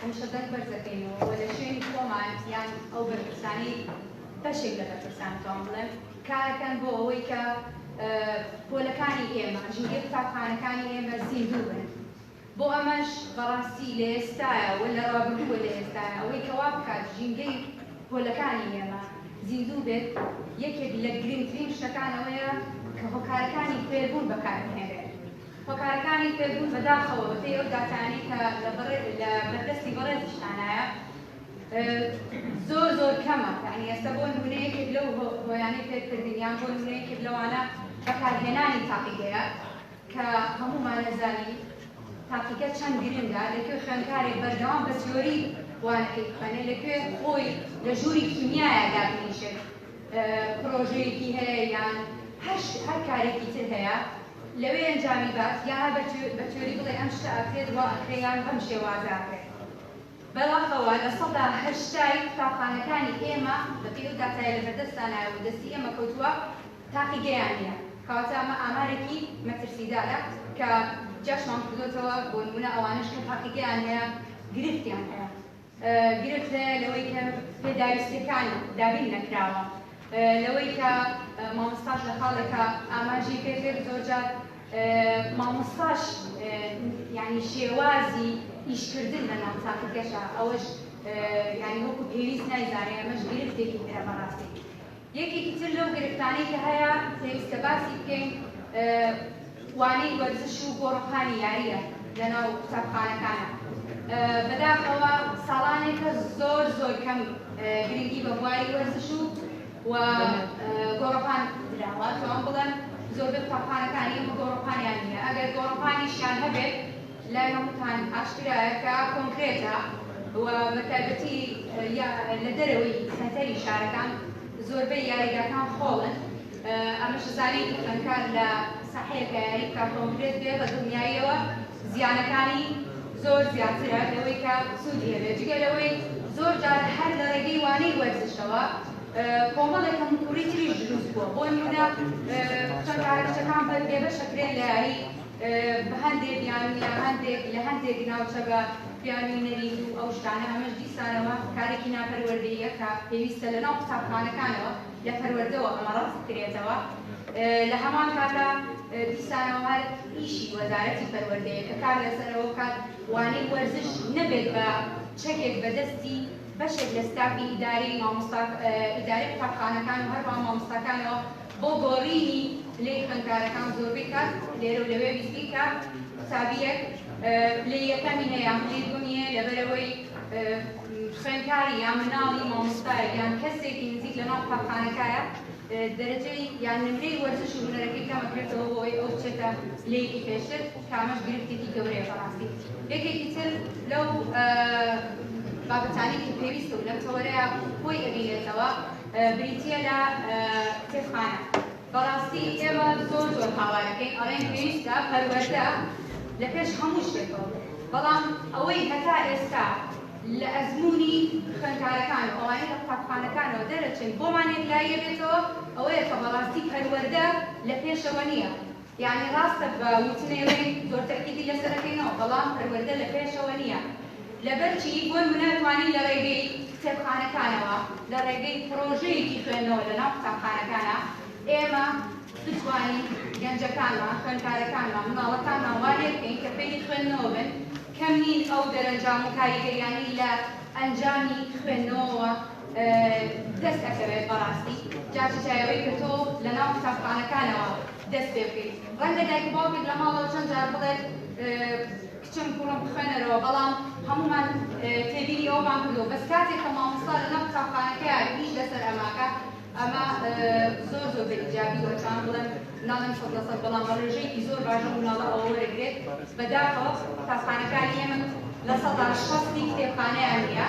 هەمیشە دەنگ بەرز دەکەین و لە شوێنی خۆمان یان ئەو بەرپرسانەی بەشێک لە بەرپرسان بتوان بڵێم کارەکەن بۆ ئەوەی کە پۆلەکانی ئێمە ژووری قوتابخانەکانی ئێمە زیندوو بن بۆ ئەمەش بەڕاستی لە ئێستایە و لە ڕابردووە لە ئێستایە ئەوەی کەوا بکات ژینگەی پۆلەکانی ئێمە زیندوو بێت یەکێک لە گرنگترین شتەکانەوەیە کە هۆکارەکانی فێربوون بەکاربهێنێت هۆکارەکانی فێربوون بەداخەوە بەپێی ئەو داتایانەی کە لە بەردەستی بەڕێزیشتانایە زۆر زۆر کەمە یعنی ئێستا بۆ نمونە یەکێک لەو هۆیانەی فێرکردن یان بۆ نمونە یەکێک لەوانە بەکارهێنانی تاقیگەیە کە هەموومان نەزانی تاقیگە چەند گرنگە لەکوێ خوێندکارێک بەردەوام بە تیۆری وانەکەی بخوێنێ لەکوێ خۆی لە ژووری کیمیایە دابنیشێت پرۆژەیەکی هەیە یان هەر کارێکی تر هەیە لەوێ ئەنجامی بات یاا بە تیۆری بڵێ ئەم شتە ئەکرێت وا ئەکرێ یان بەم شێوازە ئەکرێ. بەداخەوە لە سەدا هەشتای قوتابخانەکانی ئێمە بەپێی ئەو داتایە لە بەردەستدانایە و دەستی ئێمە کەوتووە تاقیگەیان نییە کەواتە ئەمە ئامارێکی مەترسیدارە کە جاشمان کردۆتەوە بۆ نموونە ئەوانەش کە تاقیگەیان هەیە گرفتیان هەیە. گرفتەیە لەوەی کە پێداویستیەکان دابین نەکراوە لەوەی کە مامۆستاش لە خاڵێکە ئاماژی پێکرد زۆرجار مامۆستاش ینی شێوازی ئیشکردن لە ناو تاقیگەشە ئەوەش ینی وەکو پێویست نایزانێ ئەمەش گرفتێکی ترە بەڕاستی یەکێکی تر لەو گرفتانەی کە هەیە پێویستە باسی بکەین وانەی وەرزش و گۆڕەپانی یارییە لەناو قوتابخانەکانا. بەداخەوە ساڵانێکە زۆر زۆر کەم گرنگی بە بواری وەرزش و و گۆڕەپان دراوە، توام بڵێم زۆربەی قوتابخانەکان ئێمە گۆڕەپانیان نییە، ئەگەر گۆڕەپانیشیان هەبێت لایەن خۆتان ئاشکرایە کە کۆنکرێتە و بە تایبەتی لە دەرەوەی سەنتەری شارەکان زۆربەی یاریگاکان خۆڵن ئەمەش زانین کە خوێندکار لە ساحەیەکە یاری بکە کۆنکرێت بێ بە دڵنیاییەوە زیانەکانی زۆر زیاترە لەوەی کە سوودی هەبێت جگە لەوەی زۆر جار هەر لە ڕێگەی وانەی وەرزشەوە کۆمەڵێک هەمکوڕی تریش دروست بووە بۆ نمونە خوێندکارەکچەکان بەبێبەشەکرێن لە یاری بە هەندێ بیانوو یا هەندێک لە هەندێک ناوچە بە بیانووی نەریت و ئەو شتانە، ئەمەش دیسانەوە کارێکی ناپەروەردەییە کە پێویستە لەناو قوتابخانەکانەوە لە پەروەردەوە ئەمە ڕەفع بکرێتەوە. لە هەمان کاتا دیسانەوە هەر ئیشی وەزارەتی پەروەردەیە کە کار لەسەر ئەوە بکات وانەی وەرزش نەبێت بە چەکێک بە دەستی بەشێک لە ستافی ئیداری مامۆستا ئیداری قوتابخانەکان و هەروەها مامۆستاکانەوە بۆ گۆڕینی پلەی خوێندکارەکان و زۆربەی کات لێرە و لەوێ بیستی کە قوتابییەک پلەی یەکەمی هەیە یان پلەی دووەمی هەیە لەبەرئەوەی خوێندکاری یان مناڵی مامۆستایەک یان کەسێکی نزیک لەناو قوتابخانەکایە دەرەجەی یان نمرەی وەرزش و هونەرەکەی کەمەکرێتەوە بۆ ئەوەی ئەو بچێتە پلەیەکی پێشتر کە ئەمەش گرفتێکی گەورەیە بەڕاستی یەکێکی تر لەو بابەتانەی کە پێویستە و لەم تەوەرەیە خۆی ئەبینێتەوە بریتیە لە کتێبخانە بەڕاستی ئێمە زۆر زۆر هاوارەکەین ئەڵێن پێویستە پەروەردە لە پێش هەموو شتێکەوە بێت بەڵام ئەوەی هەتا ئێستا لە ئەزمموی خوێندکارەکان و ئەوانەی لە قوتابخانەکانەوە دەرەچن بۆمان یەکلاییە بێتەوە ئەوەیە کە بەڕاستی پەروەردە لە پێشەوە نییە یانی ڕاستە بە وتنەی ڕێی زۆر تەئکیدی لەسەر ئەکەینەوە بەڵام پەروەردە لە پێشەوە نییە لەبەرچی بۆ نمونە توانی لە ڕێگەی کتێبخانەکانەوە لە ڕێگەی پڕۆژەیەکی خوێندنەوە لە ناو قوتابخانەکانە ئێمە بتوانین گەنجەکانمان خوێندکارەکانمان مناڵەکانمان وا لێ بکەین کە فێری خوێندنەوە بن کەم نین ئەو دەرەنجام و کاریگەریانەی لە ئەنجامی خوێندنەوەوە دەست ئەکەوێت بەڕاستی جاشە شایەوەی کە تۆ لە ناو قوتابخانەکانەوە دەست پێ بکەیت ڕەنگە دایک و باوکت لە ماڵەوە چەند جار بڵێت کچم کوڕم بخوێنەرەوە بەڵام هەموومان تێبینی ئەومان کردو بەس کاتێک کە مامۆستا لە ناو قوتابخانەکەیە ئیش لەسەر ئەماکە ئەمە زۆر زۆر بە ئیجابی وەچان بڵێن ناڵێن سەد لە سەد بەڵام بە ڕێژەیەکی زۆر باشە مناڵە ئەوە وەرەگرێت بەداخەوە قوتابخانەکانی ئێمە لە سەدا شەستی کتێبخانەیان نییە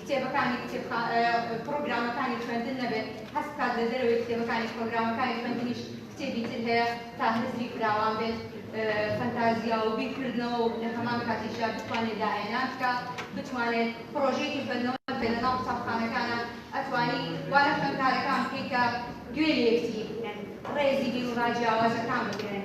کتێبەکانی کتێبخا پڕۆگرامەکانی خوێندن نەبێت هەست بکات لە دەرەوەی کتێبەکانیش پڕۆگرامەکانی خوێندنیش کتێبی تر هەیە تا هزری فراوان بێت فەنتازیا و بیرکردنەوە و لە هەمان کاتیشدا بتوانێت داهێنان بکە بتوانێت پرۆژێکی خوێندنەوە بێت لەناو قوتابخانەکانە ئەتوانی وا لە خوێندکارەکان بکەی کە گوێ لێ بگری ڕێزی بیروڕا جیاوازەکان بگرن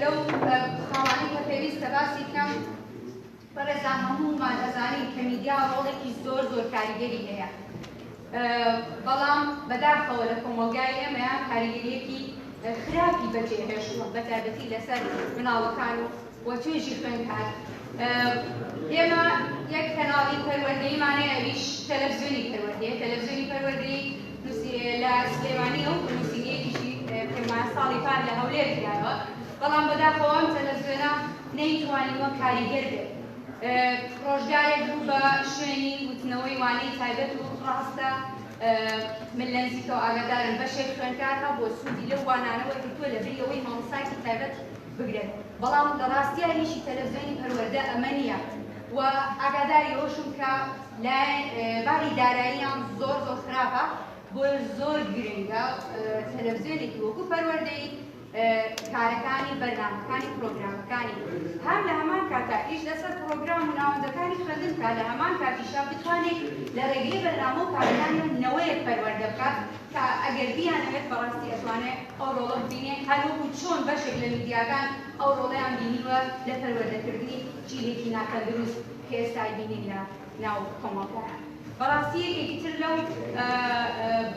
لەو خاڵانەی کە پێویستە باسی بکەم بەڕێزان هەموومان ئەزانین کە میدیا ڕۆڵێکی زۆر زۆر کاریگەری هەیە بەڵام بەداخەوە لە کۆمەلگای ئێمەیان کاریگەریەکی خراپی بەجێهێشتوە بە تایبەتی لەسەر مناڵەکان و وە توێژی خوێنکار ئێمە یەک کەناڵی پەروەردەیمانەیە ئەویش تەلەڤزیۆنی پەروەردەیە تەلەڤزیۆنی پەروەردەی نووسینگەیە لە سلێمانییە و نووسینگەیەکیشی پێما ساڵی پار لە هەولێر کرایەوە، بەڵام بەداخەوە ئەم تەلەفزیۆنە نەیتوانیوە کاریگەر بێت. ڕۆژگارێک بوو بە شوێنی وتنەوەی وانەی تایبەت و ڕاستە من لە نزیکەوە ئاگادارم بەشێک خوێندکار هەبووە سوودی لەو وانانە وەرگرتووە لەبری ئەوەی مامۆستایەکی تایبەت بگرێت، بەڵام لە ڕاستیا ئیشی تەلەفزیۆنی پەروەردە ئەمە نییە و ئاگاداری ئەوەشم کە لای باری داراییان زۆر زۆر خراپە بۆیە زۆر گرنگە تەلەڤزیۆنێکی وەکو پەروەردەی کارەکانی بەرنامەکانی پرۆگرامەکانی هەم لە هەمان کاتا ئیش لەسەر پرۆگرام و ناوەندەکانی خوێندن کا لە هەمان کاتیشا بتوانێت لە ڕێگەی بەرنامە و کارەکانی نەوەیەک پەروەردە بکات کە ئەگەر بیانەوێت بەڕاستی ئەتوانێت ئەو ڕۆڵە ببینێ هەروەکو چۆن بەشێک لە میدیاکان ئەو ڕۆڵیان بینیوە لە پەروەردەکردنی جیلێکی ناتەندروست هێشتای بینین لە ناو کۆمەڵگایا. بەڕاستی یەکێکی تر لەو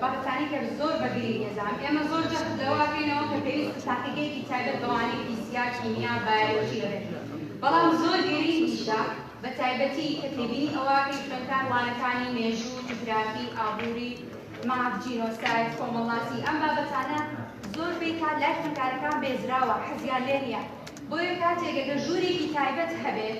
بەحسانەی کە زۆر بە گرینگ ئێزام. ئێمە زۆر جەخت لەوە ئەکەینەوە کە پێویستە تاقیگەیەکی تایبەت بە وانەی فیزیا، کیمیا، بایۆلۆژی هەبێت. بەڵام زۆر گرینگیشە بە تایبەتی کە تێبینی ئەوە ئەکەین خوێندکار وانەکانی مێژوو، جوگرافی، ئابووری، ماف، جینۆساید، کۆمەڵناسی ئەم بابەتانە زۆر پێی کات لای خوێندکارەکان بێزراوە، حەزیان لێ نییە. بۆیە کاتێک گە ژوورێکی تایبەت هەبێت،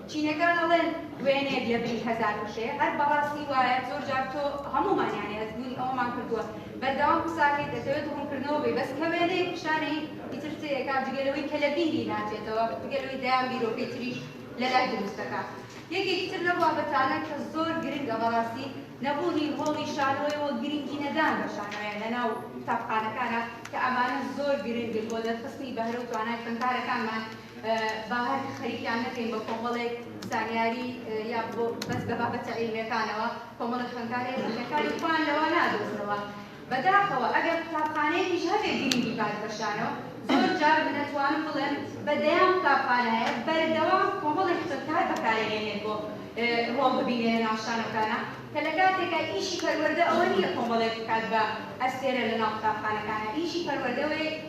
چینەکان ئەڵێن وێنەیەک لە بری هەزار وشەیە هەر بەڕاستی وایە زۆر جار تۆ هەموومان یانی هەستبوونی ئەوەمان کردووە بەردەوام قساکەیت دەتەوێت ڕوونکردنەوە بی بەس کە وێنەیەک پیشانەیت ئیتر تێیەکا جگە لەوەی کە لە بیری ناچێتەوە جگە لەوەی دەیان بیرۆکەی تریش لە لای دروست دەکا یەکێکی تر لەو بابەتانە کە زۆر گرنگە بەڕاستی نەبوونی ڕۆڵی شانۆیە و گرنگی نەدان بە شانۆیە لەناو قوتابخانەکانە کە ئەمانە زۆر گرنگن بۆ دەرخستنی بەهرە و توانای خوێندکارەکانمان با هەر خەریکیان نەکەین بە کۆمەڵێک زانیاری یا بەس بە بابەتە عیلمیەکانەوە کۆمەڵێک خوێندکارێ زیینەکانی خۆیان لەوە نادۆزنەوە بەداخەوە ئەگەر قوتابخانەیەکیش هەبێ گرینگی بات بە شانەوە زۆر جار من ئەتوانم بڵێم بە دەیان قوتابخانە هەیە بەردەوام کۆمەڵێک خوێندکار بەکارەهێنێت بۆ ڕۆڵ ببینێ لە ناو شانەکانە کە لە کاتێکا ئیشی پەروەردە ئەوە نییە کۆمەڵێک بکات بە ئەستێرە لە ناو قوتابخانەکانە ئیشی پەروەردەوەی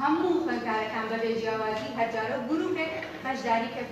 هەموو خوێندکارەکان بەبێ جیاوازی هەرجارەو گروپێک بەشداری پێ